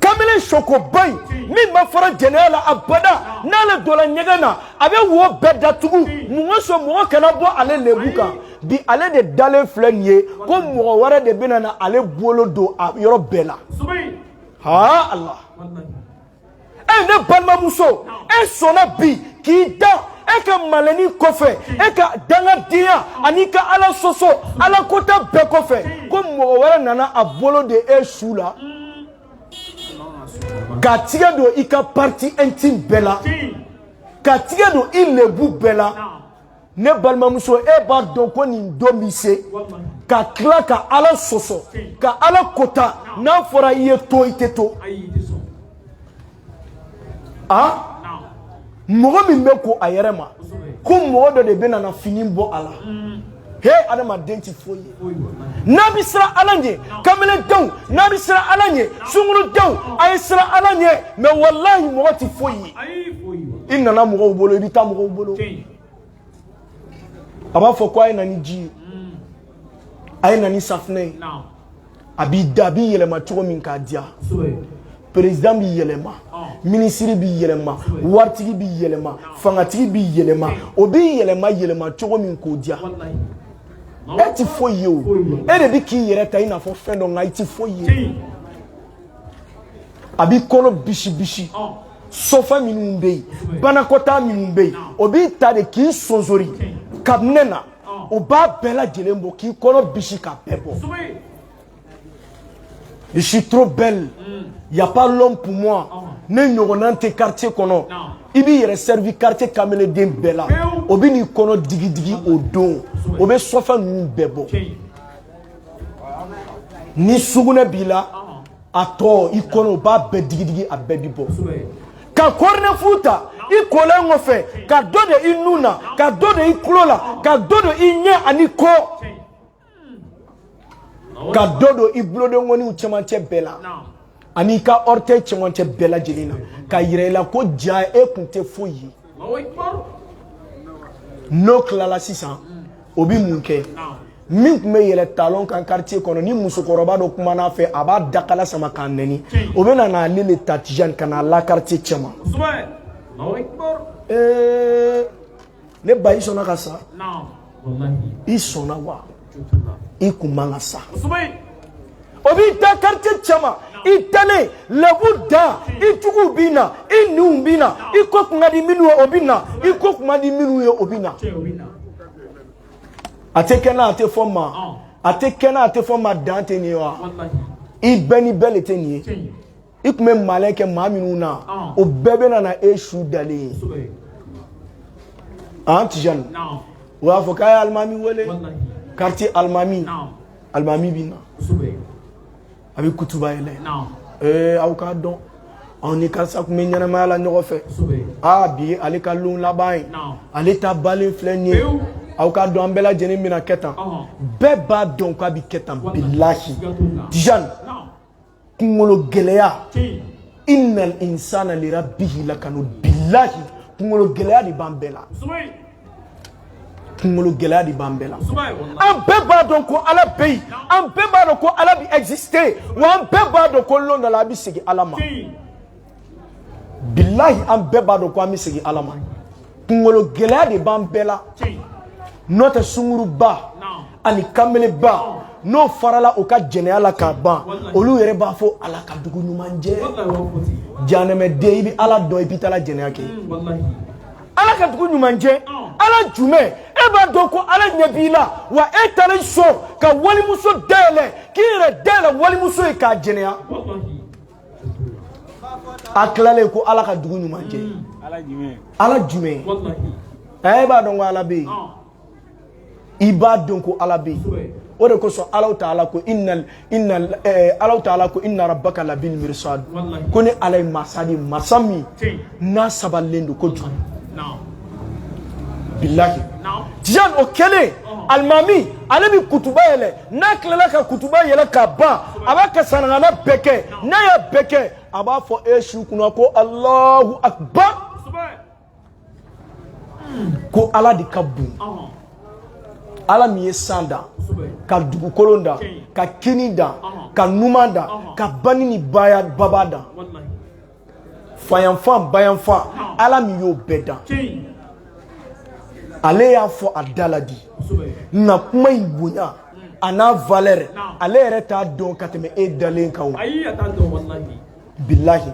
kamalen sokoba in min ma fara jɛnɛya la abada n'ale donna ɲɛgɛn na a bɛ wo bɛɛ datugu mun kosɔn mɔgɔ kana bɔ ale lebu kan bi ale de dalen filɛ nin ye ko mɔgɔ wɛrɛ de bɛna na ale bolo don a yɔrɔ bɛɛ la haa ala e ne balimamuso e sɔnna bi k'i da e ka malin nin kɔfɛ e ka dangadenya an'i ka ala sɔsɔ ala kota bɛɛ kɔfɛ ko mɔgɔ wɛrɛ nana a bolo da e su la k'a tɛgɛ don i ka partie intime bɛɛ la k'a tɛgɛ don i lebu bɛɛ la ne balimamuso e b'a dɔn ko nin don bɛ se ka tila ka ala sɔsɔ ka ala kota n'a fɔra i ye to i tɛ to a mɔgɔ min bɛ ko a yɛrɛ ma ko mɔgɔ dɔ de bɛna n'a fini bɔ a la he adamaden tɛ foyi ye n'a bɛ siran ala ɲɛ kamalendenw n'a bɛ siran ala ɲɛ sungurudenw a ye siran ala ɲɛ mɛ walahi mɔgɔ tɛ foyi ye i nana mɔgɔw bolo i bɛ taa mɔgɔw bolo a b'a fɔ ko a ye na ni ji ye a ye na ni safinɛ ye a b'i da a b'i yɛlɛma cogo min k'a diya perezidan bɛ yɛlɛma minisiri bɛ yɛlɛma waritigi bɛ yɛlɛma fangatigi bɛ yɛlɛma o b'i yɛlɛma yɛlɛma cogo min k'o diya e tɛ foyi ye o e de bɛ k'i yɛrɛ ta i n'a fɔ fɛn dɔ nka i tɛ foyi ye a b'i kɔnɔ bisibisi sɔfɛ minnu bɛ yen banakɔtaa minnu bɛ yen o b'i ta de k'i sonsori kabinɛ na o b'a bɛɛ lajɛlen bɔ k'i kɔnɔ bisi k'a bɛɛ bɔ. Je suis trop belle. Il n'y a pas l'homme pour moi. Ne ɲɔgɔnna tɛ quartier kɔnɔ i b'i yɛrɛ servi quartier kamalenden bɛɛ la o bɛ n'i kɔnɔ digidigi o don o bɛ sɔfɛn ninnu bɛɛ bɔ ni sugunɛ b'i la a tɔ i kɔnɔ o b'a bɛɛ digidigi a bɛɛ bi bɔ ka kɔrɔnɛfu ta i kolen kɔfɛ ka dɔ da i nun na ka dɔ da i tulo la ka dɔ da i ɲɛ an'i kɔ ka dɔ don i bulodengɔniw cɛmancɛ bɛɛ la ani i ka orteil cɛmancɛ bɛɛ lajɛlen na k'a yira i la ko jaa e kun tɛ foyi ye n'o tilala sisan o bɛ mun kɛ min tun bɛ yɛlɛn talon kan quartier kɔnɔ ni musokɔrɔba dɔ kumana a fɛ a b'a dakala sama k'a nɛni o bɛ na n'ale le ta tijani ka n'a la quartier cɛma. ne ba i sɔnna ka sa i sɔnna wa i kun man ka sa o b'i da quartier cɛma i talen lɛbu da i juguw bɛ na i ɲinw bɛ na i ko kun ka di minnu ye o bɛ na i ko kun man di minnu ye o bɛ na a tɛ kɛ n na a tɛ fɔ n ma a tɛ kɛ n na a tɛ fɔ n ma dan tɛ nin ye wa i bɛɛ ni bɛɛ de tɛ nin ye. i tun bɛ malɛn kɛ maa minnu na o bɛɛ bɛ na e su dalen ye an tijani o b'a fɔ k'a ye alimami wele quartier alimami alimami bɛ na a bɛ kutuba yɛlɛ ee aw k'a dɔn anw ni karisa tun bɛ ɲɛnamaya la ɲɔgɔn fɛ aa bi ale ka lon laban ye ale ta banlen filɛ nin ye aw k'a dɔn an bɛɛ lajɛlen bɛna kɛ tan bɛɛ b'a dɔn k'a bɛ kɛ tan bilahi tijani kungolo gɛlɛya innal insana li rabbihi lakanu billahi kungolo gɛlɛya de b'an bɛɛ la kungolo gɛlɛya de b'an bɛɛ la an bɛɛ b'a dɔn ko ala bɛ yen an bɛɛ b'a dɔn ko ala bɛ exister wa an bɛɛ b'a dɔn ko lon dɔ la an bɛ segin ala ma bilahi an bɛɛ b'a dɔn ko an bɛ segin ala ma kungolo gɛlɛya de b'an bɛɛ la n'o tɛ sunguruba ani kanbeleba n'o farala u ka jɛnɛya la k'a ban olu yɛrɛ b'a fɔ ala ka dugu ɲuman jɛ janɛmɛden i bɛ ala dɔn i bɛ taa jɛnɛya kɛ ala ka dugu ɲuman jɛ ala jumɛn e b'a dɔn ko ala ɲɛ b'i la wa e taara i sɔn ka walimuso dayɛlɛ k'i yɛrɛ dayɛlɛ walimuso ye k'a jɛnɛya a tilalen ko ala ka dugu ɲuman jɛ mm. ala jumɛn ɛ e b'a dɔn ko ala bɛ yen ah. i b'a dɔn ko ala bɛ yen o de kosɔn alahu taala ko inna inna eh, alahu taala ko inna rabbaka labil mirsad ko ni ala ye masa de masa min n'a sabalilen don kojugu bilahi tijan o kɛlen alimami ale bɛ kutuba yɛlɛ n'a tilala ka kutuba yɛlɛ ka ban a b'a ka sanagana bɛɛ kɛ n'a y'a bɛɛ kɛ a b'a fɔ e su kunna ko alahu akbar ko ala de ka bon ala min ye san dan ka dugukolon dan ka kini dan ka numan dan ka bani ni baya baba dan fayanfan bayanfan ala min y'o bɛɛ dan ale y'a fɔ a da la de nka kuma in bonya an'a valeur ale yɛrɛ t'a dɔn ka tɛmɛ e dalen kan bilahi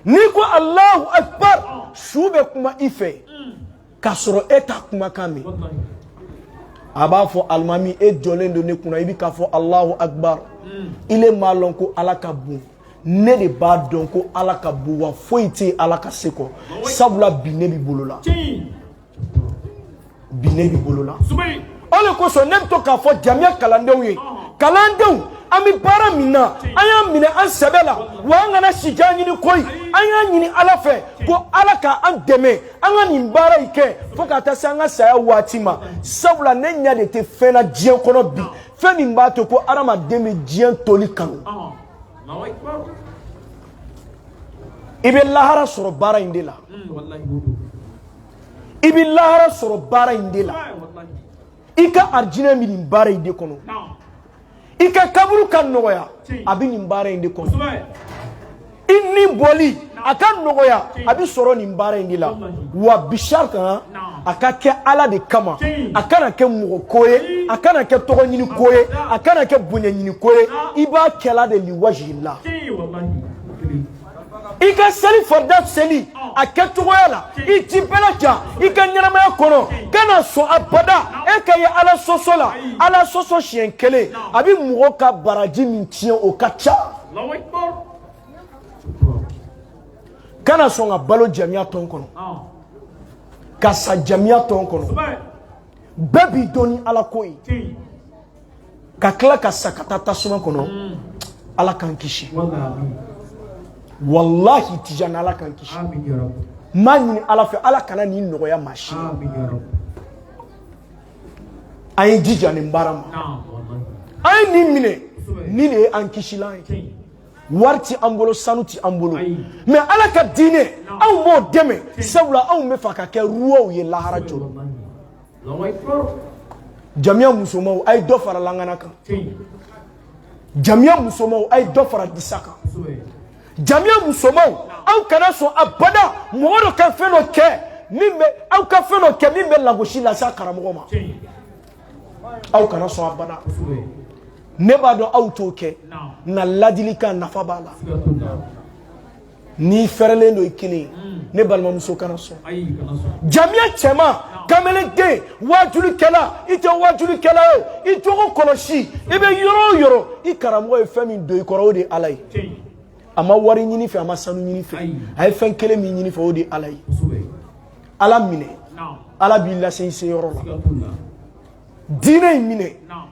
n'i ko alahu akbar su bɛ kuma i fɛ k'a sɔrɔ e t'a kumakan mɛn a b'a fɔ alimami e jɔlen don ne kunna i bɛ k'a fɔ alahu akbar hmm. i le m'a lɔn ko ala ka bon ne de b'a dɔn ko ala ka bon wa foyi tɛ yen ala ka se kɔ sabula bi ne b'i bolo la bi ne b'i bolo la. o de kosɔn ne bɛ to k'a fɔ jamiya kalandenw ye kalandenw an bɛ baara min na an y'a minɛ an sɛbɛ la wa an kana sijan ɲini koyi an y'a ɲini ala fɛ ko ala ka an dɛmɛ an ka nin baara in kɛ fo ka taa se an ka saya waati ma sabula ne ɲɛ de tɛ fɛn na diɲɛ kɔnɔ bi fɛn min b'a to ko adamaden bɛ diɲɛ toli kanu i bɛ lahara sɔrɔ baara in de la i bɛ lahara sɔrɔ baara in de la i ka arijinɛ bɛ nin baara in de kɔnɔ i ka kaburu ka nɔgɔya a bɛ nin baara in de kɔnɔ i ni bɔli a ka nɔgɔya a bɛ sɔrɔ nin baara in de la wa bisari kan a ka kɛ ala de kama a kana kɛ mɔgɔ ko ye a kana kɛ tɔgɔ ɲini ko ye a kana kɛ bonya ɲini ko ye i b'a kɛla de liwajila i ka seli farida seli a kɛcogoya la i ti bɛla ja i ka ɲɛnamaya kɔnɔ kana sɔn abada e ka ye ala sɔsɔ la ala sɔsɔ siɲɛ kelen a bɛ mɔgɔ ka baraji min tiɲɛ o ka ca kana sɔn ka balo jamiya tɔn kɔnɔ ka sa jamiya tɔn kɔnɔ bɛɛ b'i dɔn ni ala ko ye ka tila ka sa ka taa tasuma kɔnɔ mm. ala k'an kisi walahi tijani ala k'an kisi n b'a ɲini ala fɛ ala kana nin nɔgɔya maa si an ye jija nin baara ma an ye nin minɛ nin de ye an kisilan ye wari tɛ an bolo sanu tɛ an bolo mais ala ka diinɛ anw b'o dɛmɛ sabula anw b'a fɛ ka kɛ ruwaw ye lahara jɔrɔ jamiya musomanw a ye dɔ fara langana kan jamiya musomanw a ye dɔ fara disa kan jamiya musomanw aw kana sɔn abada mɔgɔ dɔ ka fɛn dɔ kɛ min bɛ aw ka fɛn dɔ kɛ min bɛ lagosi lase a karamɔgɔ ma aw kana sɔn abada ne b'a dɔn aw t'o kɛ nka ladilikan nafa b'a la n'i fɛrɛlen don i kelen ye ne balimamuso kana sɔn jamiya cɛman kamalenden waajulikɛla i tɛ waajulikɛla ye o i jogo kɔlɔsi i bɛ yɔrɔ o yɔrɔ i karamɔgɔ ye fɛn min don i kɔrɔ o de ye ala ye a ma wari ɲini i fɛ a ma sanu ɲini i fɛ a ye fɛn kelen min ɲini i fɛ o de ye ala ye ala minɛ ala b'i lase i se yɔrɔ la diinɛ in minɛ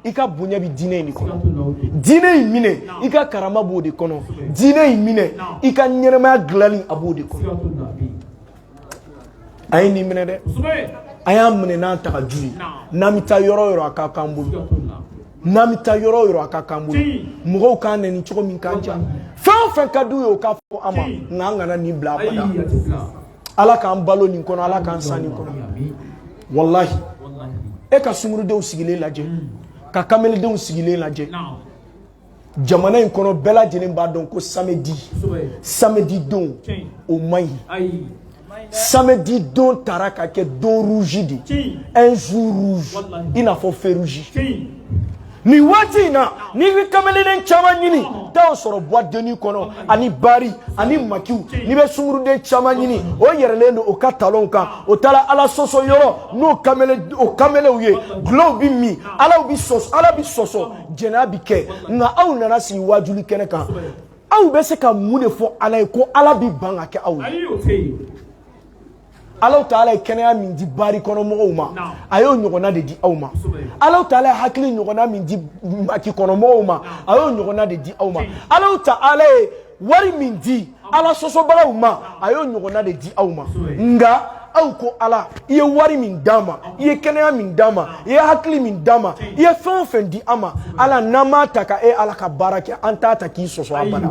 i ka bonya bɛ diinɛ in de kɔnɔ diinɛ in minɛ i ka karama b'o de kɔnɔ diinɛ in minɛ i ka ɲɛnamaya dilanni a b'o de kɔnɔ an ye nin minɛ dɛ an y'a minɛ n'an tagaju ye n'an bɛ taa yɔrɔ yɔrɔ a ka k'an bolo n'an bɛ taa yɔrɔ yɔrɔ a ka k'an bolo mɔgɔw k'an nɛni cogo min k'an ja fɛn o fɛn ka d'u ye o k'a fɔ an ma nka an kana nin bila abada ala k'an balo nin kɔnɔ ala k'an sa nin kɔnɔ walahi e ka sungurudenw sigilen lajɛ ka kameledenw sigilen lajɛ jamana in kɔnɔ bɛɛ lajɛlen b'a dɔn ko samedi samedi don o man ɲi samedi don taara ka kɛ don rouge de un jour rouge i n'a fɔ feu rouge nin waati in na n'i bɛ kamelenden caman ɲini taa o sɔrɔ boîte de nuit kɔnɔ ani bari ani makiw n'i bɛ sunguruden caman ɲini o yɛrɛlen don o ka talonw kan o taara ala sɔsɔ yɔrɔ n'o kamele o kamelew ye dulɔw bɛ min ala bɛ sɔsɔ ala bɛ sɔsɔ jɛnɛya bɛ kɛ nka aw nana sigi waajuli kɛnɛ kan aw bɛ se ka mun de fɔ ala ye ko ala bɛ ban ka kɛ aw ye. alahu taala ye kɛnɛya min di bari kɔnɔ mɔgɔw ma a y'o ɲɔgɔnna de di aw ma alahu taala ye hakili ɲɔgɔnna min di maki kɔnɔ mɔgɔw ma a y'o ɲɔgɔnna de di aw ma alahu taala ye wari min di ala sɔsɔbagaw ma a y'o ɲɔgɔnna de di aw ma nka aw ko ala i ye wari min d'an ma i ye kɛnɛya min d'an ma i ye hakili min d'an ma i ye fɛn o fɛn di an ma ala n'an m'a ta ka e ala ka baara kɛ an t'a ta k'i sɔsɔ abada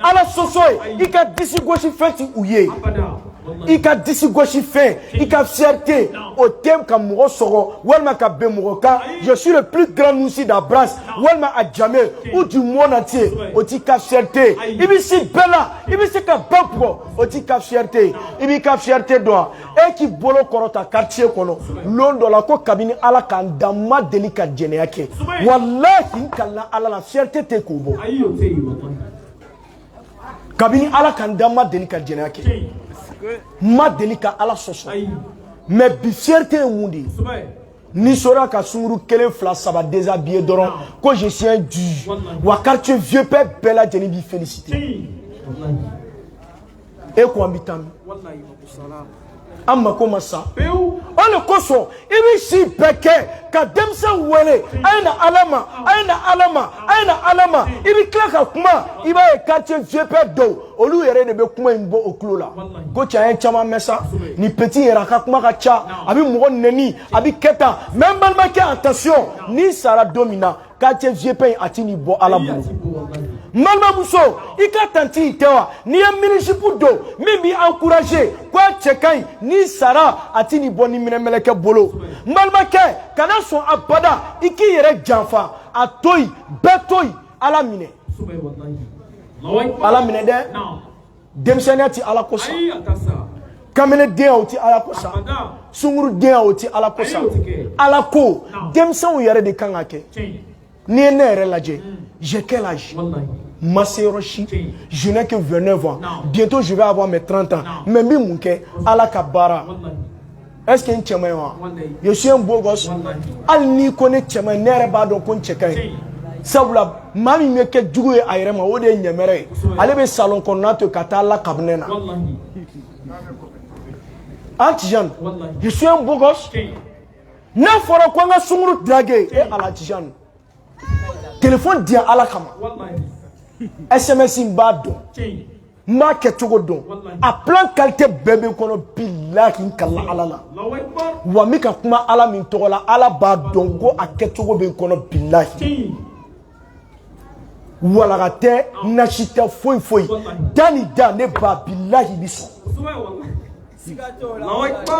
ala sɔsɔ ye i ka disi gosi fɛn t'o ye i ka disi gosi fɛn i ka fierté o tɛ ka mɔgɔ sɔgɔ walima ka ben mɔgɔ kan je suis le plus grand nouchi d'abrass walima adjamé ou du monde entier o t'i ka fierté i bɛ se bɛɛ la i bɛ se ka ba bugɔ o t'i ka fierté i b'i ka fierté dɔn wa e k'i bolo kɔrɔta quartier kɔnɔ lon dɔ la ko kabini ala ka n da n ma deli ka jɛnɛya kɛ walahi n kalila ala la fierté tɛ k'o bɔ kabini ala ka n da n ma deli ka jɛnɛya kɛ n ma deli ka ala sɔsɔ mais bi fierté ye mun de ye n'i sera ka sunguru kelen fila saba déshabillé dɔrɔn ko je suis un dieu wa quartier vieux père bɛɛ lajɛlen b'i féliciter e ko an bɛ taa min an mako ma sa o de kosɔn i bɛ si bɛɛ kɛ ka denmisɛn wele a ye na ala ma a ye na ala ma a ye na ala ma i bɛ tila ka kuma i b'a ye quartier vieux père dɔw olu yɛrɛ de bɛ kuma in bɔ o tulo la ko cɛ an ye caman mɛn sa nin petit yɛrɛ a ka kuma ka ca a bɛ mɔgɔ nɛni a bɛ kɛ tan mais n balimakɛ attention n'i sara don min na quartier vieux père in a tɛn'i bɔ ala bolo n balimamuso i ka tanti in tɛ wa n'i ye mini-jupe don min b'i encourager ko a cɛ ka ɲi n'i sara a tɛn'i bɔ niminɛmɛlɛkɛ bolo n balimakɛ kana sɔn abada i k'i yɛrɛ janfa a to yen bɛɛ to yen ala minɛ ala minɛ dɛ denmisɛnninya tɛ ala ko sa kamalendenya tɛ ala ko sa sungurudenya tɛ ala ko sa ala ko denmisɛnw yɛrɛ de kan k'a kɛ n'i ye ne yɛrɛ lajɛ hmm. j'ai quel âge n ma se yɔrɔ si je n'ai que 29 ans bientôt je vais avoir mes 30 ans mais n bɛ mun kɛ ala ka baara est-ce que n cɛ man ɲi wa je suis un beau gosse hali n'i ko ne cɛ man ɲi ne yɛrɛ b'a dɔn ko n cɛ ka ɲi sabula maa min bɛ kɛ jugu ye a yɛrɛ ma o de ye ɲɛmɛrɛ ye ale bɛ salon kɔnɔna to ka taa la kabinɛ na an tijani je suis un beau gosse n'a fɔra ko an ka sunguru drague e ala tijani telefɔni di yan ala kama sms n b'a dɔn n b'a kɛ cogo dɔn a plan kalite bɛɛ bɛ n kɔnɔ bilahi n kalila ala la wa n bɛ ka kuma ala min tɔgɔ la ala b'a dɔn ko a kɛcogo bɛ n kɔnɔ bilahi walaga tɛ nasi tɛ foyi foyi da ni da ne ba bilahi bi sɔn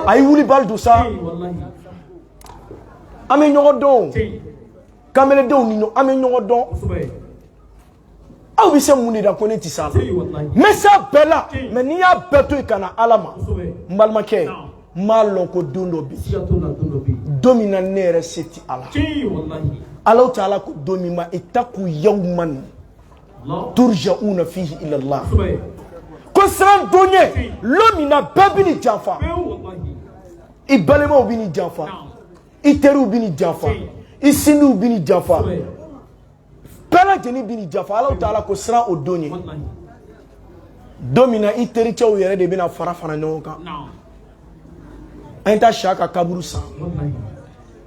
a ye wulibali don sa an bɛ ɲɔgɔn dɔn kanbeledenw ni an bɛ ɲɔgɔn dɔn aw bɛ se mun de la ko ne tɛ s'a la n bɛ se a bɛɛ la mɛ ne y'a bɛɛ to yen ka na ala ma n balimakɛ n b'a lɔn ko don dɔ bɛ yen don min na ne yɛrɛ se tɛ a la alahu taala ko don min ma ittaqu yawman turjauna fihi ilallah ko siran don ɲɛ lon min na bɛɛ bɛ n'i janfa i balimaw bɛ n'i janfa i teriw bɛ n'i janfa i sinjiw bɛ n'i janfa bɛɛ lajɛlen bɛ n'i janfa alahu taala ko siran o don ɲɛ don min na i tericɛw yɛrɛ de bɛna fara fara ɲɔgɔn kan an ye taa siyaka kaburu san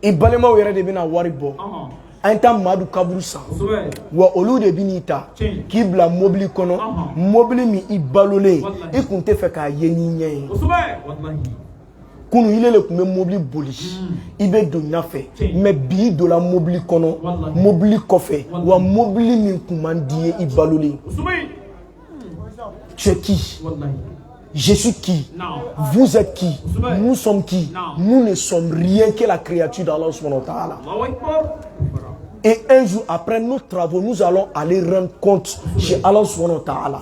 i balimaw yɛrɛ de bɛna wari bɔ an ye taa madu kaburu san wa olu de bɛ n'i ta k'i bila mobili kɔnɔ mobili min i balolen i kun tɛ fɛ k'a ye n'i ɲɛ ye kunun ile de tun bɛ mobili boli i bɛ don ɲa fɛ mɛ bi i donna mobili kɔnɔ mobili kɔfɛ wa mobili min tun man d'i ye i balolen tu es qui je suis qui vous êtes qui nous sommes qui nous ne sommes rien que la créature d'Allah subhanahu wa ta'ala et un jour après nos travaux nous allons aller rendre compte chez Allah subhanahu wa ta'ala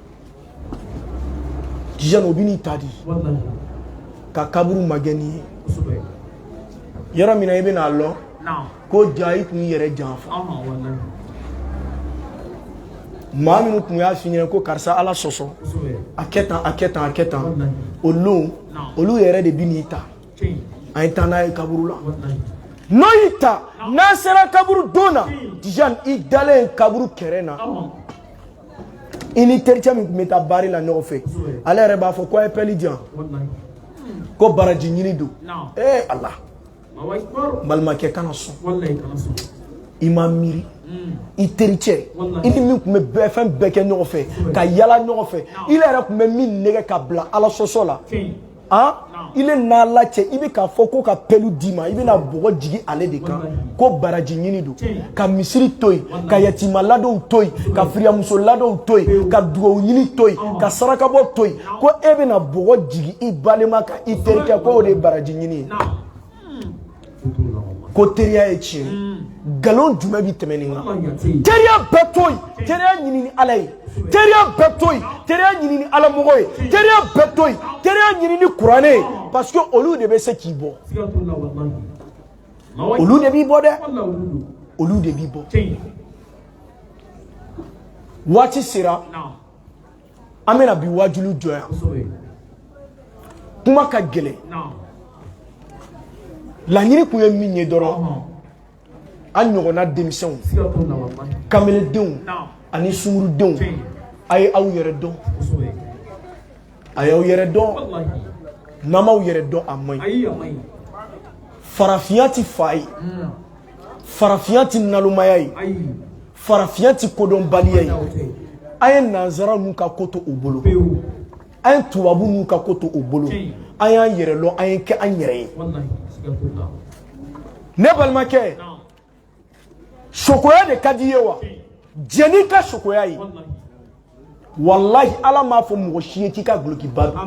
tijani o bɛ n'i ta di ka kaburu magɛn n'i ye yɔrɔ min na i bɛna a lɔn ko ja i tun y'i yɛrɛ janfa maa minnu tun y'a f'i ɲɛna ko karisa ala sɔsɔ a kɛ tan a kɛ tan a kɛ tan o don olu yɛrɛ de bɛ n'i ta an ye taa n'a ye kaburu la n'o y'i ta n'an sera kaburudon na tijani i dalen kaburu kɛrɛ na i ni tericɛ min tun bɛ taa baari la ɲɔgɔn fɛ ale yɛrɛ b'a fɔ ko a ye pɛli di yan ko baraji ɲini don ee ala balimakɛ kana sɔn i ma miiri i tericɛ i ni min tun bɛ fɛn bɛɛ kɛ ɲɔgɔn fɛ ka yala ɲɔgɔn fɛ ile yɛrɛ tun bɛ min nɛgɛ ka bila ala sɔsɔ la an ile n'ala cɛ i bɛ k'a fɔ ko ka pɛlu d'i ma i bɛna bɔgɔ jigin ale de kan ko baraji ɲini don ka misiri to yen ka yatima ladonw to yen ka firiyamuso ladonw to yen ka dugawu ɲini to yen ka sarakabɔ to yen ko e bɛna bɔgɔ jigin i balima kan i terikɛ ko o de ye baraji ɲini ye ko teriya ye ten nkalon jumɛn bɛ tɛmɛ nin kan teriya bɛɛ to yen teriya ɲini ni ala ye teriya bɛɛ to yen teriya ɲini ni ala mɔgɔ ye teriya bɛɛ to yen teriya ɲini ni kuranɛ ye parce que olu de bɛ se k'i bɔ olu de b'i bɔ dɛ olu de b'i bɔ waati sera an bɛna bi wajulu jɔ yan kuma ka gɛlɛn laɲini tun ye min ye dɔrɔn an ɲɔgɔnna denmisɛnw kamelendenw ani sungurudenw a ye aw yɛrɛ dɔn a y'aw yɛrɛ dɔn n'a m'aw yɛrɛ dɔn a man ɲi farafinya tɛ fa ye farafinya tɛ nalomaya ye farafinya tɛ kodɔnbaliya ye an ye nanzara n'u ka ko to u bolo an ye tubabu n'u ka ko to u bolo an y'an yɛrɛ lɔn an ye kɛ an yɛrɛ ye ne balimakɛ sokoya de ka di i ye wa jɛn n'i ka sokoya ye walahi ala m'a fɔ mɔgɔ si ye k'i ka dulokiba don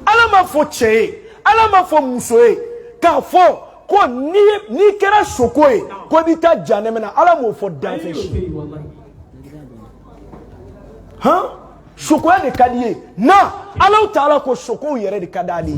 ala m'a fɔ cɛ ye ala m'a fɔ muso ye k'a fɔ ko n'i kɛra soko ye ko i bɛ taa janɛmɛ na ala m'o fɔ danfɛn si han sokoya de ka d'i ye na alahu taala ko sokow yɛrɛ de ka d'ale ye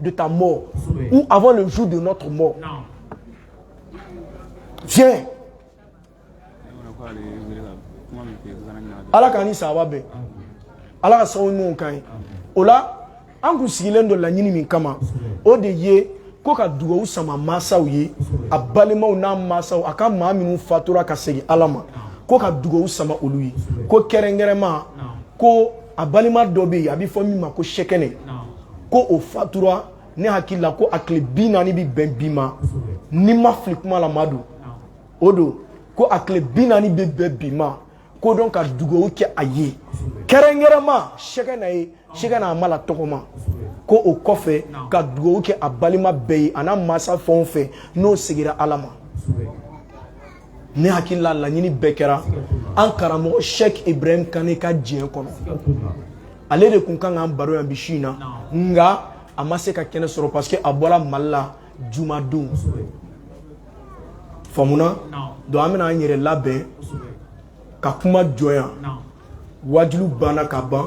de ta mort ou avant le jour de notre mort. Viens. ala k'an ni saba bɛn ala k'a sago ɲumanw k'an ye o la an kun sigilen don laɲini min kama o de ye ko ka dugawu sama mansaw ye a balimaw n'a mansaw a ka maa minnu fatura ka segin ala ma ko ka dugawu sama olu ye ko kɛrɛnkɛrɛnma ko a balima dɔ bɛ yen a bɛ fɔ min ma ko sɛkɛnɛ ko o fatura ne hakili la ko a tile bi naani bɛ bɛn bi ma ni n ma fili kuma la ma don o don ko a tile bi naani bɛ bɛn bi ma ko dɔn ka dugawu kɛ a ye kɛrɛnkɛrɛnma sɛkɛna ye sɛkɛna hamala tɔgɔma ko o kɔfɛ ka dugawu kɛ a balima bɛɛ ye a n'a mansa fɛn o fɛn n'o segira ala ma ne hakili la laɲini bɛɛ kɛra an karamɔgɔ sɛki ibrahim kane ka diɲɛ kɔnɔ ale de tun ka kan k'an baro yan bi su in na nka a ma se ka kɛnɛ sɔrɔ parce que a bɔra mali la jumadon faamuna donc an bɛna an yɛrɛ labɛn ka kuma jɔ yan wajulu banna ka ban